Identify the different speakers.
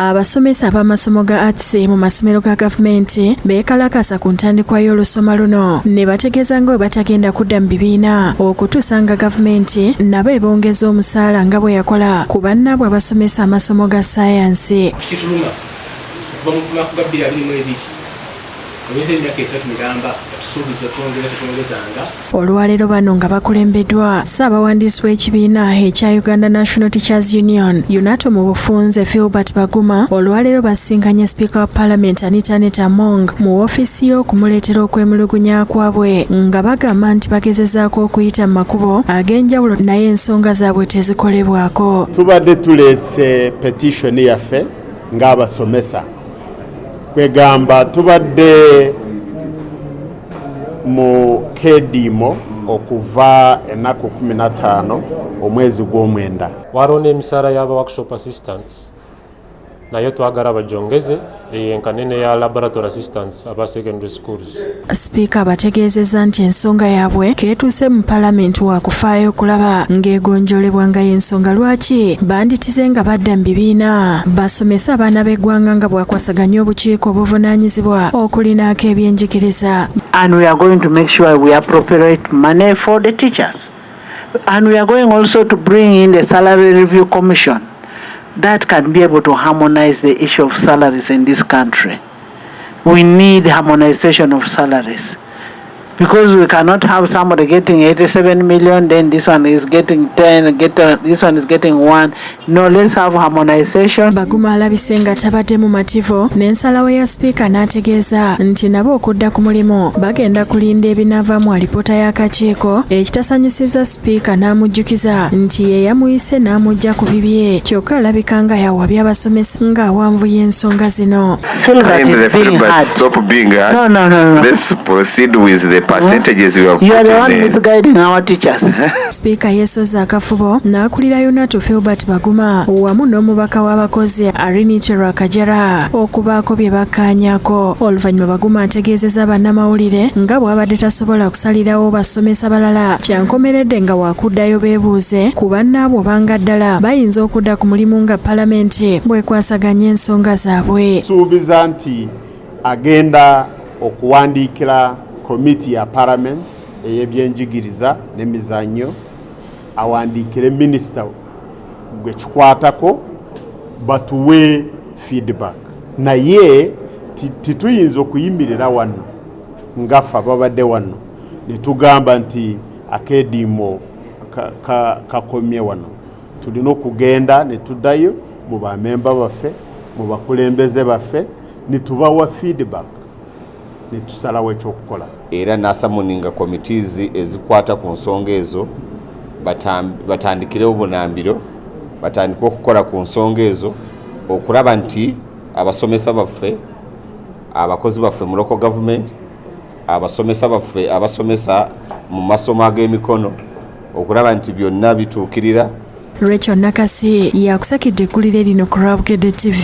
Speaker 1: Abasomesa b'amasomo ga arts mu masomero ga gavumenti beekalakasa ku ntandikwa y'olusoma luno ne bategeeza nga bwe batagenda kudda mu bibiina okutuusa nga gavumenti nabo ebongeza omusaala nga bwe yakola ku bannaabwe abasomesa amasomo ga sayansi. kituluma okuva mu
Speaker 2: lunaku ga 22 Tumeze emyaka esatu miramba atusuubiza twongera tetwongezanga. Olwaleero bano
Speaker 1: nga bakulembedwa ssaabawandiisi w'ekibiina ekya Uganda National Teachers Union UNATO mu bufunze Filbert Baguma olwaleero basinkanye sipiika wa palamenti Anita Anita Among mu woofiisi ye okumuleetera okwemulugunya kwabwe nga bagamba nti bagezezaako okuyita mu makubo ag'enjawulo naye ensonga zaabwe tezikolebwako. Tubadde
Speaker 3: tuleese petishoni yaffe ng'abasomesa kwegamba tubadde mu kediimo okuva ennaku 15 omwezi gw'omwenda waliwo n'emisaala
Speaker 4: y'aba workshop assistants nayo twagala bajongeze eyenkane neya laboratory assistants aba secondary schools Sipiika
Speaker 1: abategeezezza nti ensonga yaabwe keetuuse mu palamenti waakufaayo okulaba ng'egonjoolebwa nga y'ensonga lwaki banditize nga badda mu bibiina basomese abaana b'eggwanga nga bwakwasaganya obukiiko obuvunaanyizibwa okulinaako ebyenjigiriza And we are going
Speaker 5: to make sure we appropriate money for the teachers. And we are going also to bring in the salary review commission that can be able to harmonize the issue of salaries in this country. We need harmonization of salaries because we cannot have somebody getting 87 million, then this one is getting 10, get, uh, this one is getting 1. No, let's have harmonization. Baguma alabise nga
Speaker 1: tabadde mu mativu n'ensalawo ya sipiika n'ategeeza nti nabo okudda ku mulimu bagenda kulinda ebinaava mu alipoota y'akakiiko ekitasanyusiza sipiika n'amujjukiza nti ye yamuyise n'amujja ku bibye kyokka alabika nga yawabya abasomesa ng'awanvuya ensonga zino
Speaker 5: sipiika yeesozza
Speaker 1: akafubo n'akulira yonatu filbert baguma wamu n'omubaka w'abakozi arinite rwakajara okubaako bye bakkaanyako oluvannyuma baguma ategeezeza bannamawulire nga bw'abadde tasobola kusalirawo abasomesa balala kyankomeredde nga wakuddayo beebuuze ku bannaabwe obanga ddala bayinza okudda ku mulimu nga palamenti bwekwasaganya ensonga zaabwe. Suubiza nti
Speaker 3: agenda okuwandiikira komiti ya palamenti ey'ebyenjigiriza n'emizannyo awandiikire minisita gwe kikwatako batuwe feedback naye tituyinza okuyimirira wano ngafa babadde wano ne tugamba nti akeediimo kakomye wano tulina okugenda ne tuddayo mu bamemba baffe mu bakulembeze baffe ne tubawa feedback ne tusalawo ekyokukola era nasamuninga
Speaker 6: committees ezikwata ku nsonga ezo batandikirewo bunambiro batandike okukola ku nsonga ezo okulaba nti abasomesa baffe abakozi baffe muloko gavumenti abasomesa baffe abasomesa mu masomo ag'emikono okulaba nti byonna bituukirira
Speaker 1: Rachel Nakasi yakusakidde
Speaker 6: eggulire
Speaker 1: lino ku Rwabugedde TV.